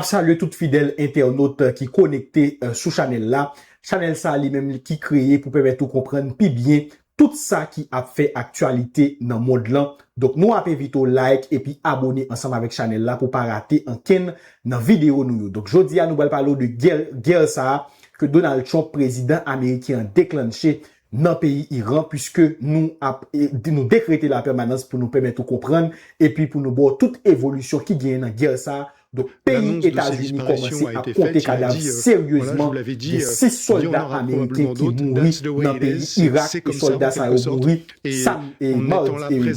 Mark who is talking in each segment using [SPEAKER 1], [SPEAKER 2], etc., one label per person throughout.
[SPEAKER 1] Map salye tout fidèl entènot ki konekte sou chanèl la. Chanèl sa li menm ki kreye pou pèmèt ou konprann pi byen tout sa ki ap fè aktyalite nan mond lan. Donk nou ap envite w like epi abone ansanm avèk chanèl la pou pa rate ankenn nan videyo nou yo. Donk jodi a nou pral pale w de gè gè sa ke Donald Trump prezidan ameriken an deklannche nan peyi Iran puiske nou ap nou dekrete lapèmanans pou nou pèmèt ou konprann epi pou nou ba w tout evolisyon ki genyen nan gè sa Donk peyi Etazini kòmanse ap konte kadav seryezman, gen 6 sòlda ameriken ki mouri nan peyi Irak e sòlda sa yo mouri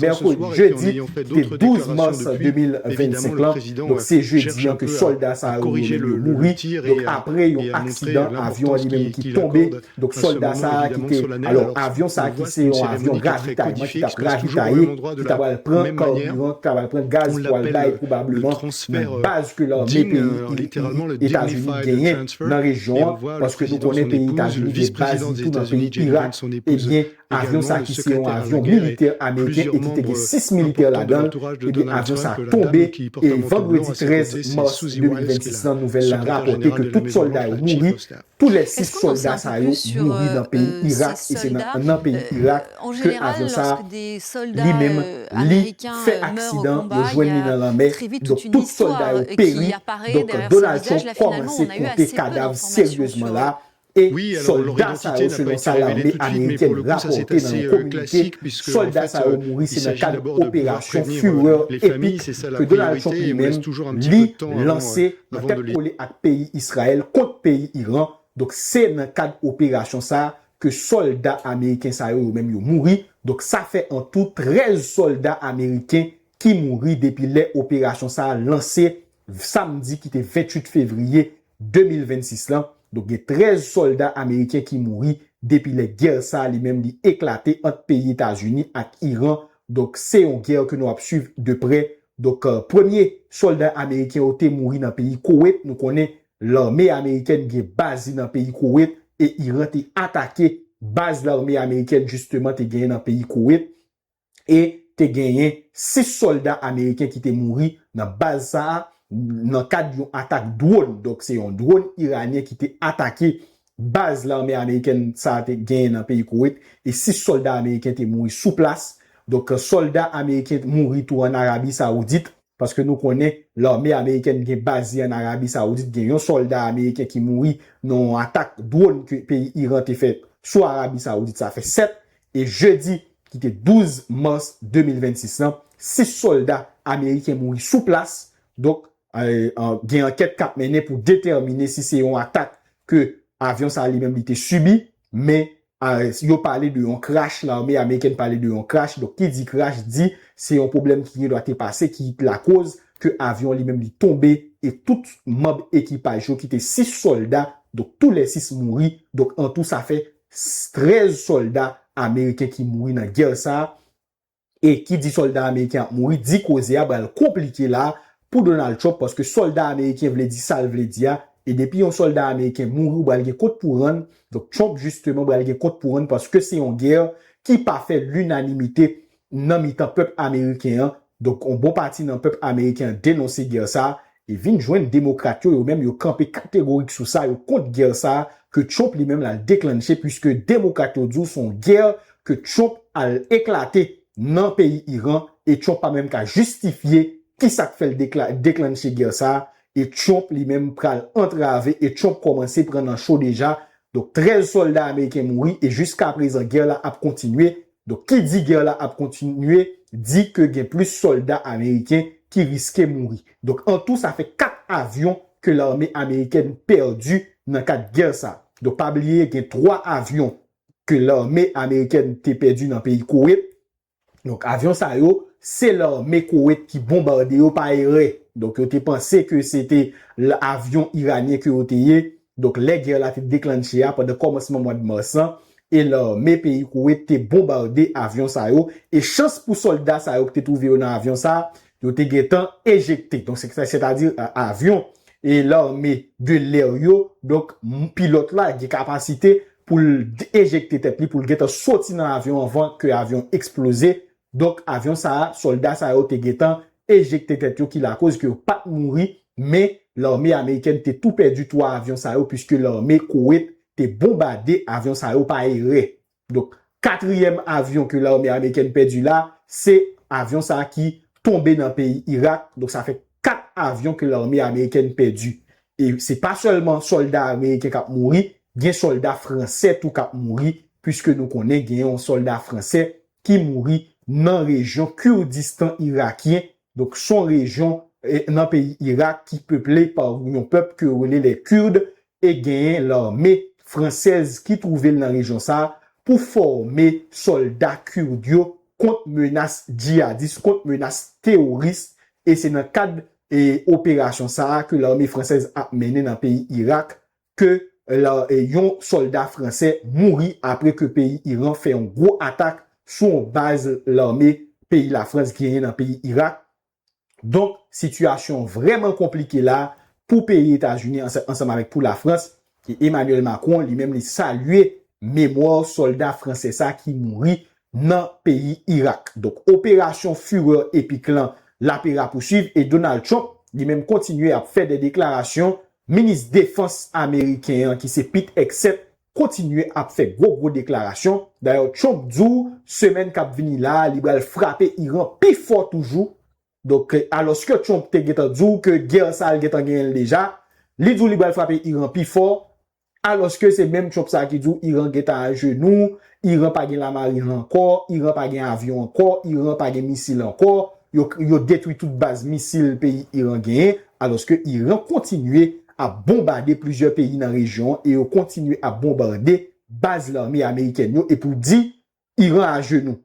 [SPEAKER 1] mèkredi, jedi ki te 12 mas 2025 lan, donk se jedi an ke sòlda sa yo mouri, donk apre yon aksidan avyon an li menm ki tonbe Donk sòlda sa a ki te, alò avyon sa a ki se yon avyon ravitayman ki t ap ravitaye, ki ta pral pran karbiran, ki ta pral pran gaz pou al bay pwobableman nan baz ke lame peyi Etazini genyen nan rejyon an, paske nou konnen peyi Etazini gen baz li tou nan peyi Irak, ebyen avyon sa a ki se yon avyon militè ameriken e ki te gen 6 militè ladan l, ebyen avyon sa a tonbe e vandredi 13 mas 2026 lan nouvèl la rapòte ke tout sòlda yo mouri. Tou lè 6 sòlda sa yo mouri nan peyi Irak e se nan nan peyi Irak ke avyon sa li menm li fè aksidan yo jwenn li nan lanmè donk tout sòlda yo peri donk Donald Trump kòmanse konte kadav seryezman la e sòlda sa yo selon sa lame amerikèn rapòte nan yon kominike sòlda sa yo mouri se nan kad operasyon Furor Epic ke Donald Trump li menm li lanse nan tèt kole ak peyi Israel kont peyi Iran, donk se nan kad operasyon sa ke sòlda ameriken sa yo yo menm yo mouri, donk sa fè an tou 13 sòlda ameriken ki mouri depi lè operasyon sa lanse samdi ki te 28 fevriye 2026 lan, donk gen 13 sòlda ameriken ki mouri depi lè gè sa li menm li eklate ant peyi Etazini ak Iran, donk se yon gè ke nou ap swiv de prè Donk premye solda ameriken yo te mouri nan peyi Kowet, nou konnen lame amerikèn gen baz li nan peyi Kowet e Iran te atake baz lame amerikèn jisteman te genyen nan peyi Kowet e te genyen 6 solda ameriken ki te mouri nan baz sa a nan kad yon atak dwon, donk se yon dwon iranyen ki te atake Baz lame amerikèn sa a te genyen nan peyi Koweit e 6 sòlda ameriken te mouri sou plas. Donk sòlda ameriken mouri tou an Arabi Sawoudit, paske nou konnen lame amerikèn gen baz li an Arabi Sawoudit, gen yon sòlda ameriken ki mouri nan yon atak dwòn ke peyi Iran te fè sou Arabi Sawoudit sa fè 7 e jedi ki te 12 mas 2026 lan 6 sòlda ameriken mouri sou plas. Donk. Gen ankèt kap mennen pou detèmine si se yon atak ke avyon sa li menm li te sibi, men yo pale de yon crash, lame amerikèn pale de yon crash, donk ki di crash di se yon pwoblèm ki gen dwa te pase ki lakoz ke avyon li menm li tonbe e tout manb ekipaj yo ki te 6 sòlda, donk tou lè 6 mouri, donk an tou sa fè 13 sòlda ameriken ki mouri nan gè sa. e ki di solda ameriken ap mouri di koze a pral konplike la pou Donald Trump paske solda ameriken vle di sal vle di a e depi yon solda ameriken mouri ou pral gen kont pou rann donk Trump jisteman pral gen kont pou rann paske se yon gè ki pa fè linanimite nan mitan pèp ameriken an donk yon bon pati nan pèp ameriken an denonse gè sa E vin jwenn Demokrat yo, yo menm yo kanpe kategorik sou sa, yo kont gè sa a ke Trump li menm l al deklannche puiske Demokrat yo di w s on gè ke Trump al eklate nan peyi Iran e Trump pa menm ka jistifye ki sa k fè l deklannche gè sa a e Trump li menm pral antrave e Trump kòmanse pran nan cho deja. Donk 13 sòlda ameriken mouri e jiskaprezan gè la ap kontinye Donk ki di gè la ap kontinye di ke gen plis sòlda ameriken ki riske mouri. Donk an tou sa fè 4 avyon ke lame amerikèn pèdi nan kad gè sa. Donk pa bliye gen 3 avyon ke lame amerikèn te pèdi nan peyi Kowet. Donk avyon sa yo se lame Kowet ki bonbarde yo pa erè. Donk yo te panse ke se te avyon iranyen ke yo te ye. Donk lè gè la te deklanche a pandan kòmansman mwad mas lan e lame peyi Koweit te bonbarde avyon sa yo e chans pou sòlda sa yo ki te twouve yo nan avyon sa yo te gentan ejekte donk sètadi avyon e lame de l'air yo donk pilòt la gen kapasite pou l ejekte tèt li pou l gentan soti nan avyon anvan ke avyon eksploze Donk avyon sa a, sòlda sa yo te gentan ejekte tèt yo ki lakoz ke yo pat mouri, men lame amerikèn te tou pèdi 3 avyon sa yo puiske lame Kowet te bonbade avyon sa yo pa erè. Donk katriyèm avyon ke lame amerikèn pèdi la, se avyon sa ki tonbe nan peyi Irak, donk sa fè 4 avyon ke lame amerikèn pèdi. E se pa sèlman sòlda ameriken kap mouri, gen sòlda fransè tou kap mouri, puiske nou konnen gen yon sòlda fransè ki mouri nan rejyon Kurdistan irakyen, donk son rejyon nan peyi Irak ki peple pa yon pèp ke yo rele lè Kurd e genyen lame fransèz ki twouve l nan rejyon sa pou fòme sòlda Kurd yo kont menas djiyadis, kont menas teworis e se nan kad operasyon sa ke lame fransèz ap mennen nan peyi Irak ke yon solda fransè mouri apre ke peyi Iran fè yon gwo atak sou yon baz lame peyi la Frans genyen nan peyi Irak. Donk sitiyasyon an vrèman konplike la pou peyi Etazini ansanm avèk pou la Frans e Emmanuel Macron li menm li salye memwa solda fransè sa ki mouri nan peyi Irak. Donk operasyon fureur epic lan lape rapousuiv e Donald Trump li menm kontinye ap fè de deklarasyon, minis defans ameriken an ki se Pete Hegseth kontinye ap fè gwo gwo deklarasyon, dayè Trump di w semèn kap vini la a li pral frape Iran pi fò toujou, donk alòske Trump te gentan di w ke gè sa l gentan genyen l deja, li di w li pral frape Iran pi fò. Alòske se menm Trump sa ki di w Iran gentan ajenou, Iran pa gen lamarin ankò, Iran pa gen avyon ankò, Iran pa gen misil ankò, yo yo detwi tout baz misil peyi Iran genyen, alòske Iran kontinye ap bonbade plizyè peyi nan rejyon an e yo kontinye ap bonbarde baz lame amerikèn yo epi w di Iran ajenou.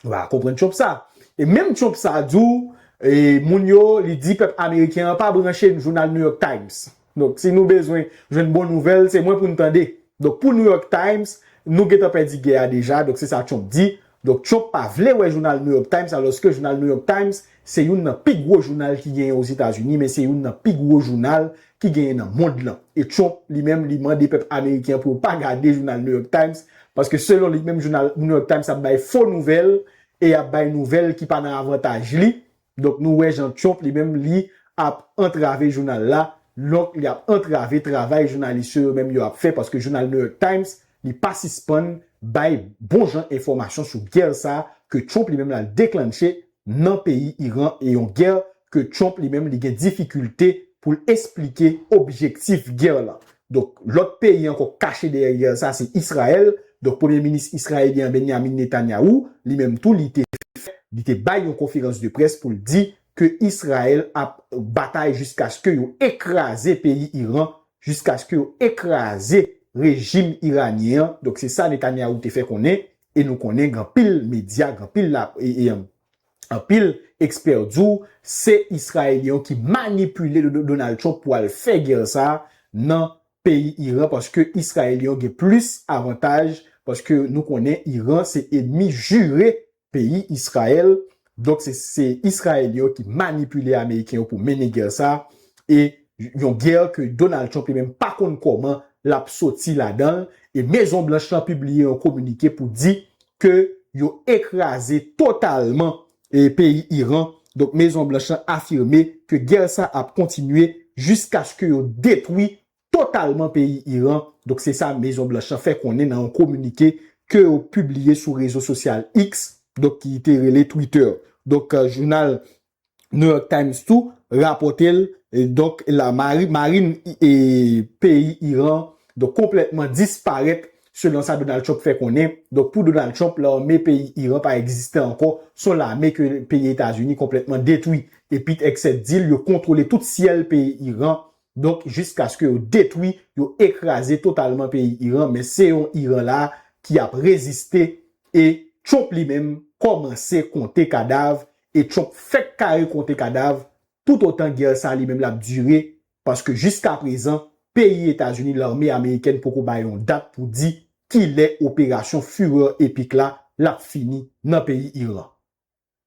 [SPEAKER 1] Nou pa ka konprann Trump sa. E menm Trump sa di w, e moun yo, li di pèp ameriken an pa branche jounal New York Times. Donk si nou bezwen jwenn bon nouvèl, se mwen pou nou tande. Donk pou New York Times, nou gen tan pèdi gè a deja, donk se sa Trump di. Donk Trump pa vle wè jounal New York Times alòske jounal New York Times Se youn nan pi gwo jounal ki genyen Ozetazini men se youn nan pi gwo jounal ki genyen nan mond lan. E Trump li menm li mande pèp ameriken an pou yo pa gade jounal New York Times paske selon li menm jounal New York Times ap bay fo nouvèl e yap bay nouvèl ki pa nan avantaj li. Donk nou wè jan Trump li menm li ap antrave jounal la, donk li ap antrave travay jounalis yo yo menm yo ap fè paske jounal New York Times li pa sispann bay bon jan enfòmasyon sou gè sa ke Trump li menm lal deklanche nan peyi Iran e yon gè ke Trump li menm li gen difikilte pou l esplike objektif gè lan. Donk lòt peyi ankò k kache dèyè gè sa se Israel, donk premye minis Israelyen an Benyamin Netanyahu li menm tou li te fè li te bay yon konferans de près pou l di ke Israel ap batay jiskaske yo ekraze peyi Iran, jiskaske yo ekraze rejim iranyen an, donk se sa Netanyahu te fè konnen e nou konnen gen anpil medya gen anpil la e anpil ekspè di w se Israelyen yo ki manipile Donald Trump pou al fè gè sa nan peyi Iran paske Israelyen yo gen plis avantaj paske nou konnen Iran se enmi jire peyi Israel Donk se se Israel yo ki manipile Ameriken yo pou mennen gè sa a e yon gè ke Donald Trump li menm pa konn kòman l ap soti ladan l e Mezon Blanch lan pibliye yon kominike pou di ke yo ekraze totalman e peyi Iran. Donk Mezon Blanch lan afime ke gè sa a ap kontinye jiskaske yo detwi totalman peyi Iran, donk se sa Mezon Blanch lan fè konnen nan yon kominike ke yo pibliye sou rezo sosyal X, donk ki te rele Twitter. Donk jounal New York Times tou rapòte l, donk la mari marin peyi Iran donk konplètman disparèt selon sa Donald Trump fè konnen. Donk pou Donald Trump lame peyi Iran pa egziste ankò, se yon lame ke peyi Etazini konplètman detwi. Epi t-x7 di l yo kontwole tout syèl peyi Iran. Donk jiskaske yo detwi, yo ekraze totalman peyi Iran men se yon Iran la ki ap reziste e Trump li menm kòmanse konte kadav e Trump fèk kare konte kadav toutotan gè sa li menm l ap dire paske jiskaprezan peyi Etazini lame amerikèn poko bay yon dat pou di kilè operasyon Fureur Epic la l ap fini nan peyi Iran.